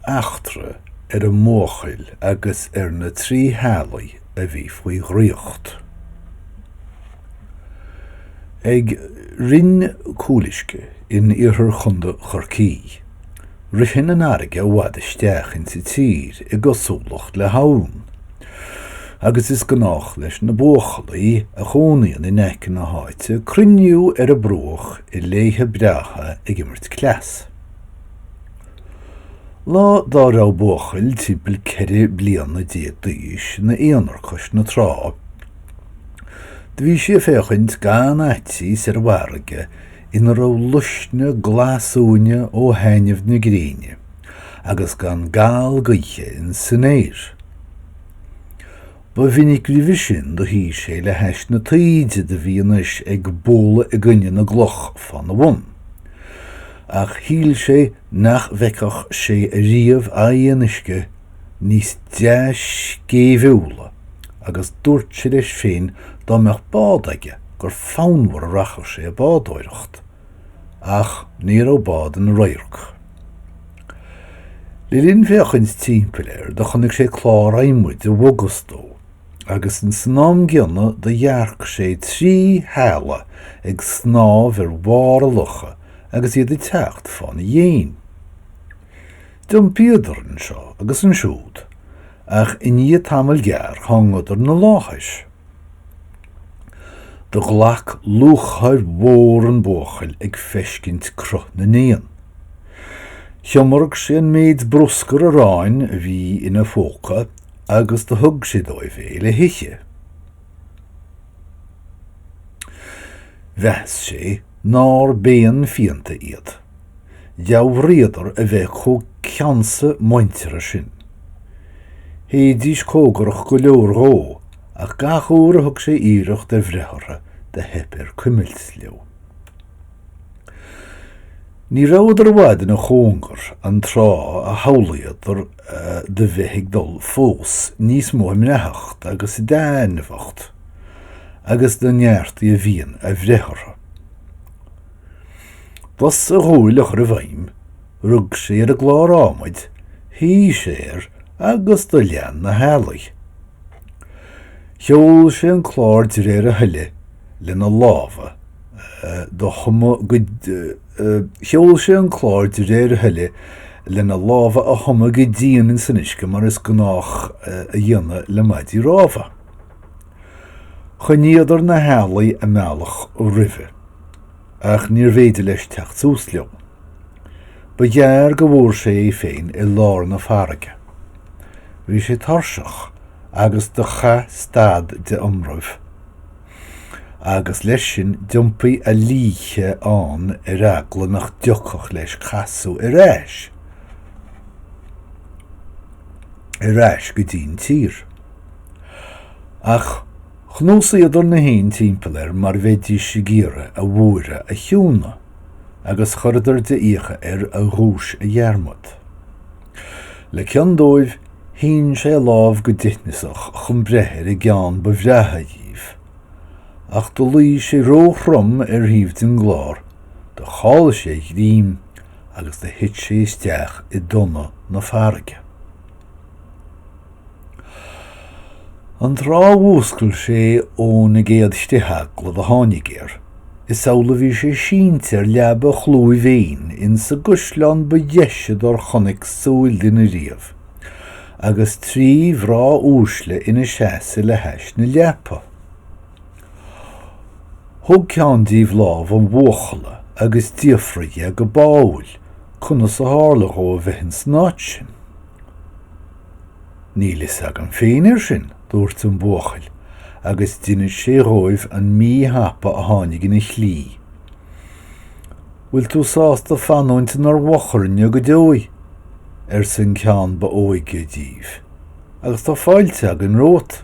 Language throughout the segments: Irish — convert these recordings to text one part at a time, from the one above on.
eachtra ar an mbuachaill agus ar na trí healaí a bhí faoi dhraíocht. Ag Rinn Cúluisce in iarthar Chondae Chorcaí, ritheann an fharraige i bhfad isteach insa tír i gcosúlacht le habhann. agus is gnách leis na buachaillí a chónaíonn in aice na háite cruinniú ar a bruach i laethe breátha ag imirt cleas. Lá dá raibh buachaill timpeall ceithre bliana déag d'aois ina aonar chois na trá. Do bhí sé ag féachaint gan fhaitíos ar an bhfarraige ina raibh luisne glasuaine ó thaitneamh na gréine. agus gan gal gaoithe in san aer. Ba mhinic roimhe sin do shuí sé le hais na taoide do bhí anois ag bualadh i gcoinne na gcloch fá na bhun. Ach shíl sé nach bhfeicfeadh sé ariamh aghaidh an uisce níos dea-scéimhiúla agus dúirt sé leis féin dá mbeadh bád aige gur fonnmhar a rachadh sé ag bádóireacht. Ach ní raibh bád ina radharc. Le linn féachaint timpeall air, do chonaic sé clár adhmaid i bhfogas dó, agus ins an am gcéanna do dhearc sé trí h-eala ag snámh ar bharr an locha agus iad ag teacht fá n-a dhéin. D'iompaíodar anseo agus ansiúd, ach i ndiaidh tamaill gearr thángadar 'na láthair. Do ghlac lúcháir mhór an buachaill ag feiscint cruth na n-éan. Thiomairg sé an méid bruscar aráin a bhí in a phóca agus do thug sé dóibh é le hithe. Mheas sé nár b'éan fiánta iad. Dhealraíodar a bheith chomh ceannsa muinteartha sin. Théidís comhgarach go leor dhó ach gach uair a thug sé iarracht ar bhreith orthu do theip air cuimilt leo. Ní rabhadar i bhfad ina chóngar an tráth a shamhlaíodar do bheith ag dul fós níos mó i mbreáthacht agus i dtaitneamhacht agus do neartaigh a mhian a bhreith orthu. B'as a dhúil a chur i bhfeidhm, rug sé ar an gclár adhmaid, shuigh sé air agus do lean na healaí. Sheol sé an clár de réir a thoile lena lámha do thumadh Sheol sé an clár de réir a thoile lena lámha a thumadh go dian ins an uisce mar is gnách a dhéanamh le maidí rámha. Choinníodar na healaí a mbealach roimhe, ach níorbh fhéidir leis teacht suas leo. Ba ghearr go bhfuair sé é féin i lár na farraige. Bhí sé tuirseach agus do chaith stad de iomramh, agus leis sin d'iompaigh a líthe ann ar eagla nach dtiocfadh leis casadh ar ais ar ais go dtí'n tír. Ach chnuasaíodar na héin timpeall air mar bheidís ag iarraidh a bhuaireamh a chiúnadh agus chuireadar de fhiacha air a ghuais a dhearmad. Le cion dóibh shín sé a lámh go dithneasach chun breith ar an gceann ba bhreátha dhíobh, ach do luigh sé ró-throm ar thaobh den gclár, do chaill sé a ghreim agus do thit sé isteach i dtonna na farraige. An tráth a mhúscail sé ó na gcéad chritheaglaibh a tháinig air, is amhlaidh a bhí sé sínte ar leaba chlúimh éin insa gcaisleán ba dheise dár chonaic súil duine riamh, agus trí mhná uaisle ina seasamh le hais na leapa. Thóg ceann díobh lámh an bhuachalla agus d'fhiafraigh dhe go báúil conas a tharla dhó a bheith insan áit sin. Níl fhios agam féin ar sin, dúirt an buachaill, agus d'inis sé dhóibh an mí-thapa a tháinig ina shlí. Bhfuil tú sásta fanúint inár bhfochairne go deo? arsa an ceann ba óige díobh. Agus tá fáilte againn romhat.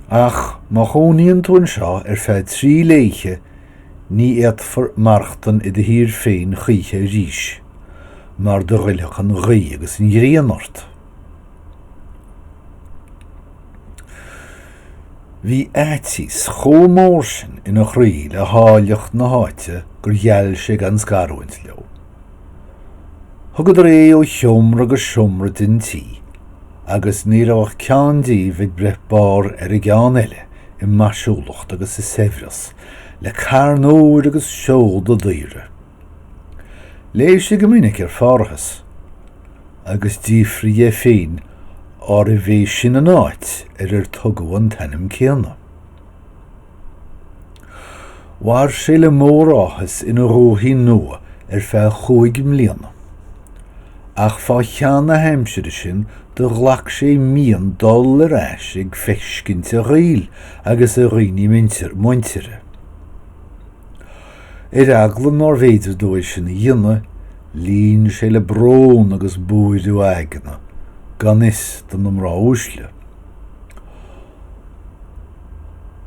Ach má chónaíonn tú anseo ar feadh trí laethe, Ní fhéadfair maireachtain i do thír féin choíche arís, mar do ghoillfeadh an ghaoth agus an ghrian ort. Bhí aiteas chomh mór sin ina chroí le háilleacht na háite gur gheall sé gan scarúint leo. Thugadar é ó sheomra go seomra den tigh, agus ní raibh ach ceann díobh ag breith barr ar an gceann eile i maisiúlacht agus i saibhreas. le carn óir agus seoda daoire. Léigh sé go minic ar Pharthas agus d'fhiafraigh dhe féin arbh é sin an áit ar ar tugadh an t-ainm céanna. Mhair sé le mór áthas ina dhúthaigh nua ar feadh chúig mbliana. ach fá cheann na haimsire sin do ghlac sé mian dul ar ais ag feiscint a ghaol agus a dhaoine muintire. Ar eagla nár bhféidir dó é sin a dhéanamh, líon sé le brón agus buaireamh aigne gan fhios do na mná uaisle.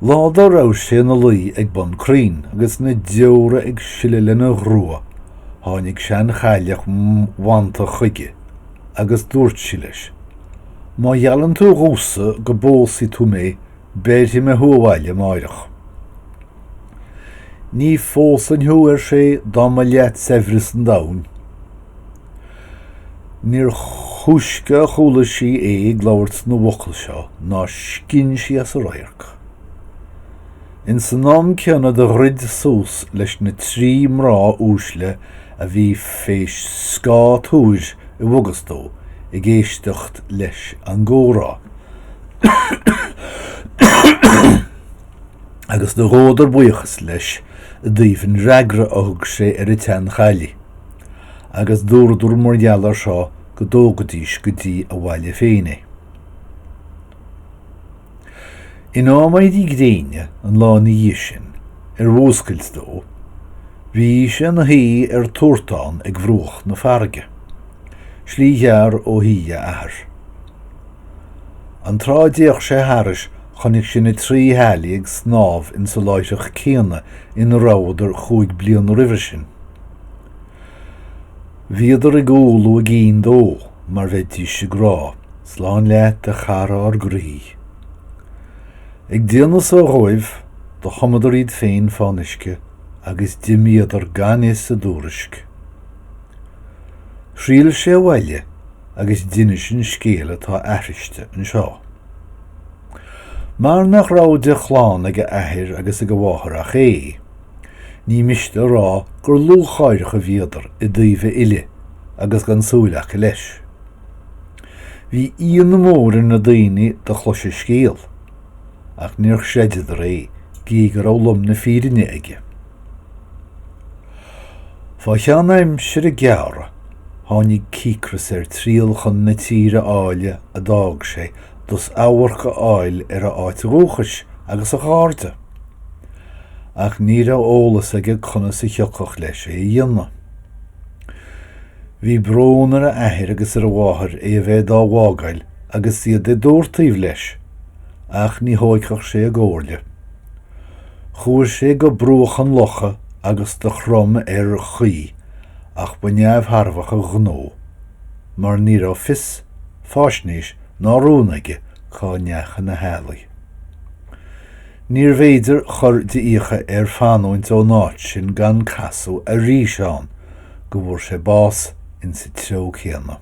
Lá dá raibh sé ina luí ag bun crainn agus na deora ag sileadh lena ghrua tháinig seanchailleach mhantach chuige agus dúirt sí leis, Má gheallann tú dhomhsa go bpósfaidh tú mé béarfaidh mé thú abhaile amáireach. Ní phósfainn thú, ar sé, dá mba leat saibhreas an domhain. Níor thúisce a chuala sí é ag labhairt na bhfocal seo ná scinn sí as a radharc. Ins an am céanna do dhruid suas leis na trí mná uaisle a bhí fé scáth toir i bhfogas dó ag éisteacht leis an gcomhrá, agus do ghabhadar buíochas leis i dtaobh an fhreagra a thug sé ar an tseanchailligh. agus dúradar mar gheall ar seo go dtógfaidís go dtí a bhaile féin é. In am éirí gréine an lá ina dhiaidh sin, ar mhúscailt dó, bhí sé ina shuí ar turtán ag bhruach na farraige, slí ghearr ó thí a athar. An tráth a d'fhéach sé thairis chonaic sé na trí healaí ag snámh insa láithreach céanna ina rabhadar chúig bliana roimhe sin. Bhíodar ag umhlú a gcinn dó mar bheidís ag rá, Slán leat a chara ár gcroí. Ag déanamh so dhóibh, do thumadar iad féin fán uisce agus d'imíodar gan fhios a dtuairisc. Thriall sé abhaile agus d'inis an scéal atá aithriste anseo. Mar nach raibh de chlann ag a athair agus ag a mháthair ach é, Ní miste a rá gur lúcháireach a bhíodar i dtaobh a fhilleadh agus gan súil aca leis. Bhí íonadh mór ar na daoine do chlois a scéal ach níor chreideadar é gí go raibh lom na fírinne aige. Fá cheann aimsire gearra tháinig cíocras air triall chun na tíre áille a d'fhág sé dus amharc a fháil ar a áit dhúchais agus a chairde. Ach ní raibh eolas aige conas a thiocfadh leis é a dhéanamh. Bhí brón ar a athair agus ar a mháthair é a bheith dá bhfágáil agus iad i dtortaoibh leis, ach ní thóigfeadh sé a gcomhairle. Chuaigh sé go bruach an locha agus do chrom ar chaoi, ach ba neamhthairbheach an gnó, mar ní raibh fios, faisnéis ná rún aige cá ndeachaigh na healaí. Níorbh fhéidir chur de fhiacha air fanúint ó'n áit sin gan casadh arís ann go bhfuair sé bás insa treo céanna.